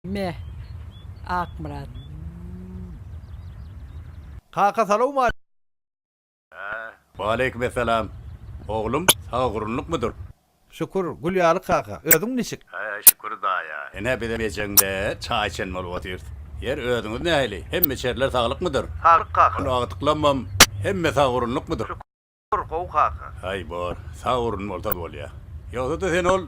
Me. Akmyrat. Kaka salowma. Waleýkim essalam. Oglum, sagagurrunlykmydyr? Şükür, gül ýaly kaka. Özüň niçik? Şükür daýa. Ine, bizem ejeňde çaý içen bolup otyrys. Ýer, özüňiz nähili? Hemme içerler saglykmydyr? Saglyk kaka. Ol agtyklammam, hemme sagagurrunlykmydyr? Bor gowy kaka. Haý bor, sag urun bolsa bolýa. Ýogsa-da sen ol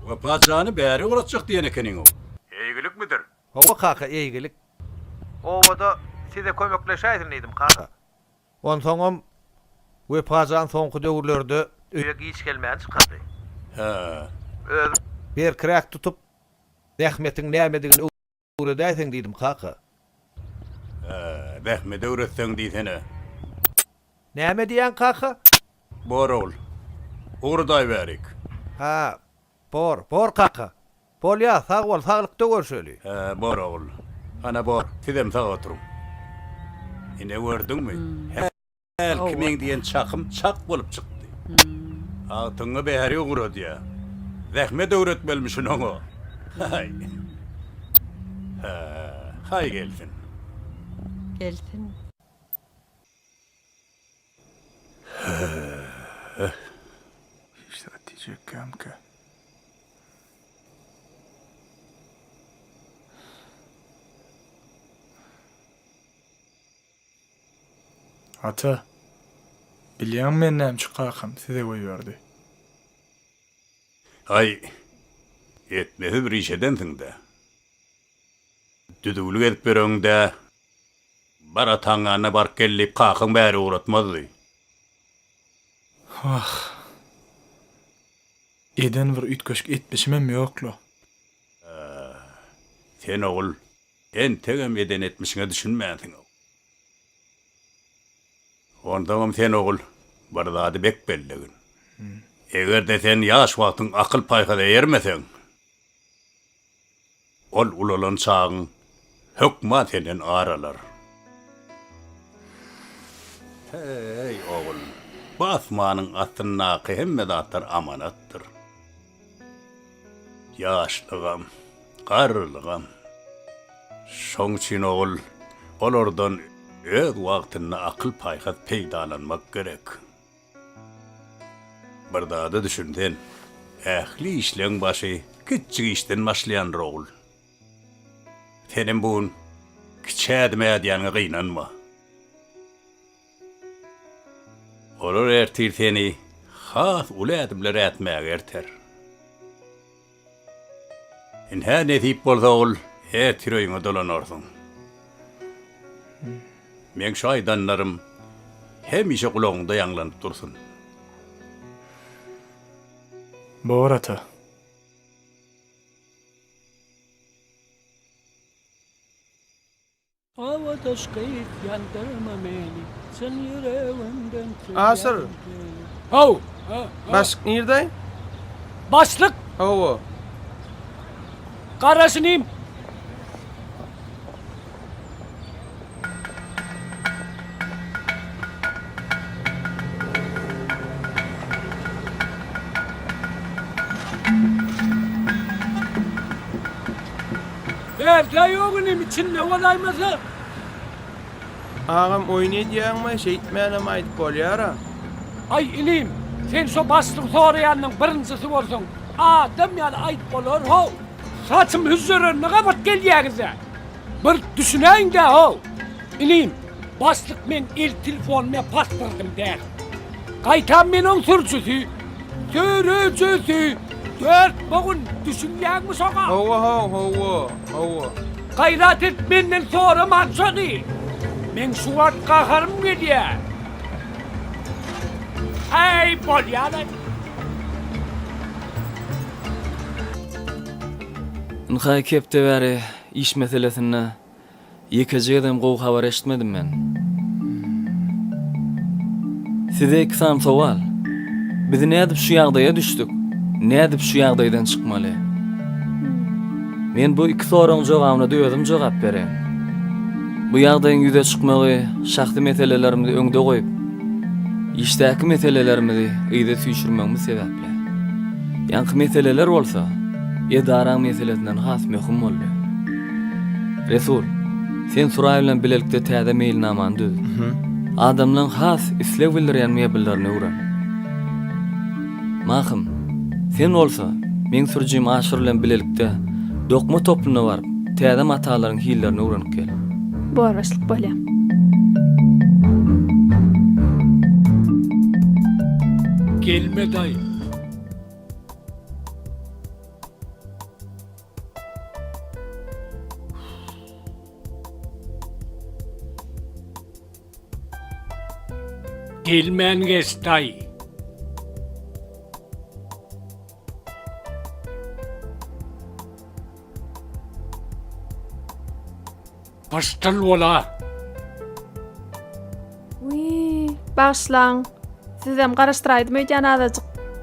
Wepat jany bäri ugratjak diýen ekeniňow. Eýgilikmidir? Hawa kaka eýgilik. Obada size kömekleşäýsin diýdim kaka. Onsoňam Wepa jan soňky döwürlerde öýe giç gelmäni çykardy. Hä. Özüň. Berkiräk tutup zähmetiň nämedigini öwret. Öwredäýseň diýdim kaka. Hä, zähmet öwretseň diýsene. Näme diýýäň kaka? Bor ogul. Ugradaýberik. Hä, bor, bor kaka. Bolýa, sag bol, saglykda görşeli. Hä, bor ogul. Hana bor, sizem sag oturyň. Ine gördüňmi? Hä. Hälki meň diýen çakym çak bolup çykdy. Agtygyňa bäri ugradýar. Zähmet öwretmelimişin oňa. Haý. Haý gelsin. Gelsin. Höh. Hiç zat diýjek känkä. Ata, bilýäňmi meni nämçe kakam size goýberdi? Aý, etmesi bir iş edensiň-dä. Düzüwlik edip ýöregiň-dä. Bar ataň ýanyna baryp gel diýip kakaň bäri ugratmazdy. Wah, eden bir üýtgeşik etmişimem ýok-la. Sen ogul, Entegem eden etmişiňe düşünmänsiňow. Onsoňam sen ogul bir zady bek bellegin. Eger-de sen ýaş wagtyň akyl-paýhasa eýermeseň, ol ulalan çagyň hökman senden ar alar. Heý, ogul, bu asmanyň astyndaky hemme zatlar amanatdyr. Ýaşlygam, garrylygam. Şoň üçin ogul, olardan öz wagtynda akyl-paýhas peýdalanmak gerek. Bir zada düşün sen, ähli işleň başy kiçjik işden başlaýandyr ogul. Senem bu gün kiçi ädim ädýäňe gynanma. Olar ertir seni has uly ädimler ätmäge erter. Ynha, nesip bolsa, ol ertir öýüňe dolanarsyň. Meň şu aýdanlarym hemişe gulagyňda ýaňlanyp dursun. Bor, ata. Awadaş gyz ýandyrma meni, Çyn ýüregimden söýýän seni. How! Başlyk nirde? Başlyk! Hawa. Garaş inim! Bärde ýok inim içinde bolaýmasa. Agam oýun edýäňmi şeýtmänem aýdyp bolýara. Aý inim sen şo başlygy soraýanyň birinjisi bolsaň adam ýaly aýdyp bolar how. Saçym hüzzerenini gabat gelýäňizä bir düşünäýindä how inim başlyk men el telefonymy pasportym däl. Gaýtam men oň sürüjisi, sürüjisi! Dört bogun, düşünýäňmi şoňa? Hawa, haw, hawa, hawa. Gaýrat et, menden sorama şony! Meň şu wagt gaharym gelýär. Äý, bolýa-laý! Ynha, iki hepde bäri iş meselesinde Ýekeje gezem gowy habar eşitmedim men. Size iki sany sowal. Biz nädip şu ýagdaýa düşdük? Nädip şu ýagdaýdan çykmaly? Men bu iki soragyň jogabyna-da özüm jogap bereýin. Bu ýagdaýyň ýüze çykmagy şahsy meselelerimizi öňde goýup, işdäki meselelerimizi yza süýşürmegimiz sebäpli. Ýaňky meseleler bolsa edaraň meselesinden has möhüm boldy. Resul, sen Suraý bilen bilelikde täze meýilnamany düz. Adamlaryň has isleg bildirýän mebellerini öwren. Mahym, sen bolsa, meň sürüjim Aşyr bilen bilelikde dokma toplumyna baryp, täze matalaryň hillerini öwrenip gel. Boraşlyk bolýar. Gelme daýy. Gelmän geç daýy. Gyş tyl bola. Wiý, bagyşlaň. Sizem garaşdyraýdym öýdýän azajyk.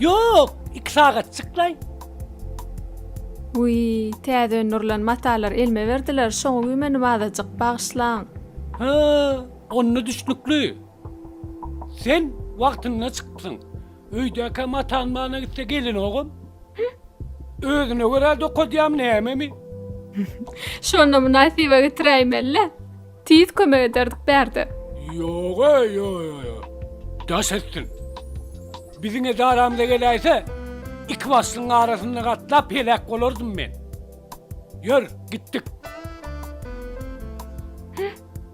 Ýok, iki sagatjyklaý. Wiý, täze öndürilen matalar elime berdiler, şoňa güýmendim azajyk, bagyşlaň. Hä, onda düşnükli. Sen wagtynda çykypsyň. Öýdäkä matan mana gitse gelenogam. Özüne görä dokadýam nämemi? Şonda mynasyba getiräýmeli-le. Tiz kömek ederdik bärde. Ýog-a, ýo-ýo-ýo. Daş etsin. Biziň edaramyza geläýse, iki başlygyň arasynda gatlap heläk bolardym men. Ýör, gitdik.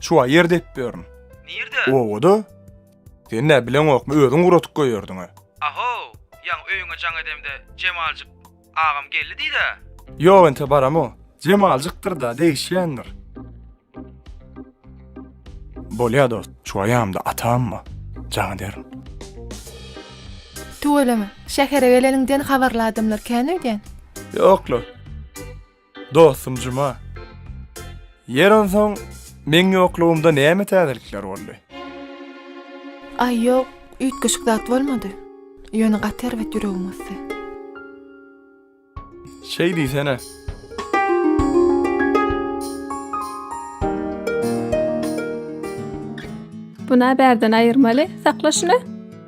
Çuwa ýer depip ýörün. Nirde? Obada. Sen nä bileňokmy, özüň guratyp goýardyň-a. Aho, ýaňy öýüňe jaň edemde, Jemaljyk agam geldi diý-dä. Ýok ente baram-a. Jemaljykdyr-da, degişýändir. Bolýa dost, çuwa ýamda atamma, jaň ederin. Tüweleme, şähere geleniňden habarly adamlar kän öýdýän. Ýok-la. Dostum Juma. Ýer onsoň meň ýoklugymda näme täzelikler boldy? Aý ýok, üýtgeşik zat bolmady. Ýöne gaty erbet ýüregim gysdy. Şeý diýsene. Buna bärden aýyrmaly, sakla şuny.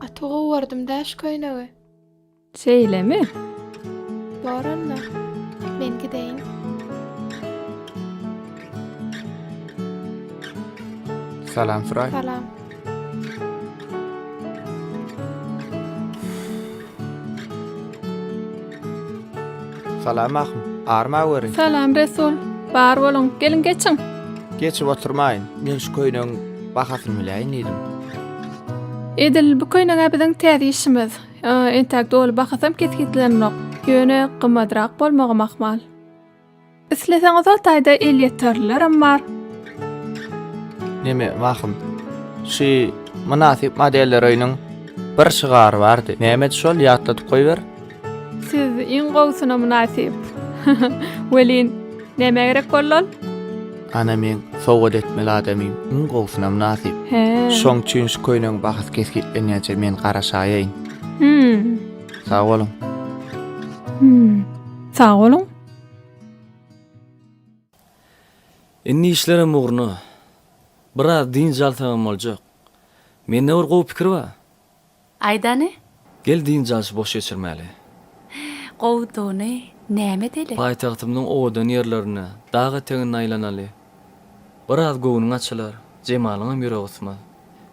Gaty gowardym daş köýnegi. Şeýlemi? Bor onda. Men gideýin. Salam Suray. Salam. Salam ahun. Arma weri. Salam Resul. Bar boluň. Geliň geçiň. Geçip oturmaýyn. Men şu köýnegiň bahasyny biläýin diýdim. Edil bu köýnegä biziň täze işimiz. Entäk doly bahasam kesgitlenenok. Ýöne gymmadrak bolmagam ahmal. Isleseňiz ol taýda elýeterlilerem bar. Neme wahym. Şu mynasyp modeller öýüniň bir şygary bardy. Nämedi şol ýatladyp goýber. Siz iň gowusyna mynasyp. Welin, nämä gerek boldy ol? Ana meň sowgat etmeli adamym iň gowusyna mynasyp. He. Şoň üçin şu köýnegiň bahasy kesgitlenýänçä men garaşaýaýyn. Hümm. Sag boluň. Hümm. Sag boluň. Indi işlerem ugruna. Biraz dynç alsagam boljak. Mende bir gowy pikir bar. Aýdany. Gel dynç alşy boş geçirmäli. Gowudygyny näme edeli? Paýtagtymyzyň owadan ýerlerine, dag etegine aýlanaly. Biraz göwnüň açylar, Jemalyňam ýüregi gysmaz.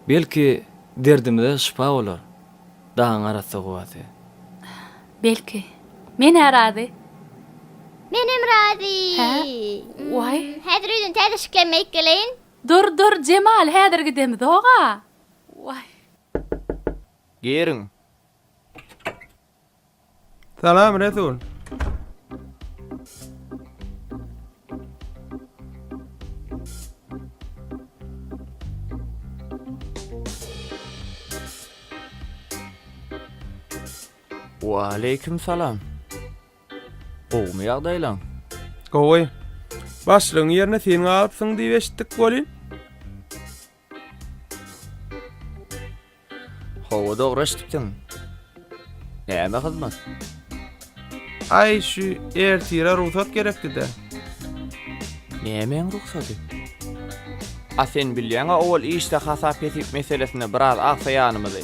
Belki, derdimize şypa bolar dagyň arassa howasy. Belki, men-ä razy. Menem razy. Hä? Waý. Häzir öýden täze şiklenme aýyp geleýin. Dur, dur, Jemal, häzir gidemizog-a. Waý. Giriň. Salam, Resul. Waleýkim salam. Gowumy ýagdaýlaň? Gowy. Başlygyň ýerine sen galypsyň diýip eşitdik welin. Hawa dogry eşitipsiň. Näme hyzmat? Aý şu ertire rugsat gerekdi-de. Nämäň rugsady? A sen bilýäň-a owal işde hasap-hesip meselesinde biraz agsaýanymyzy.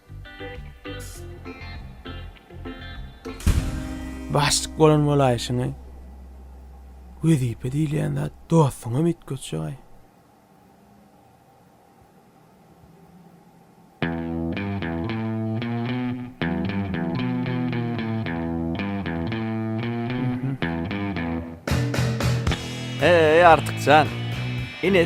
Başlyk bolan bolaýşyňy wezipe diýilýän zat dostuňam üýtgetjek-aý. Heý, Artykjan! Ine,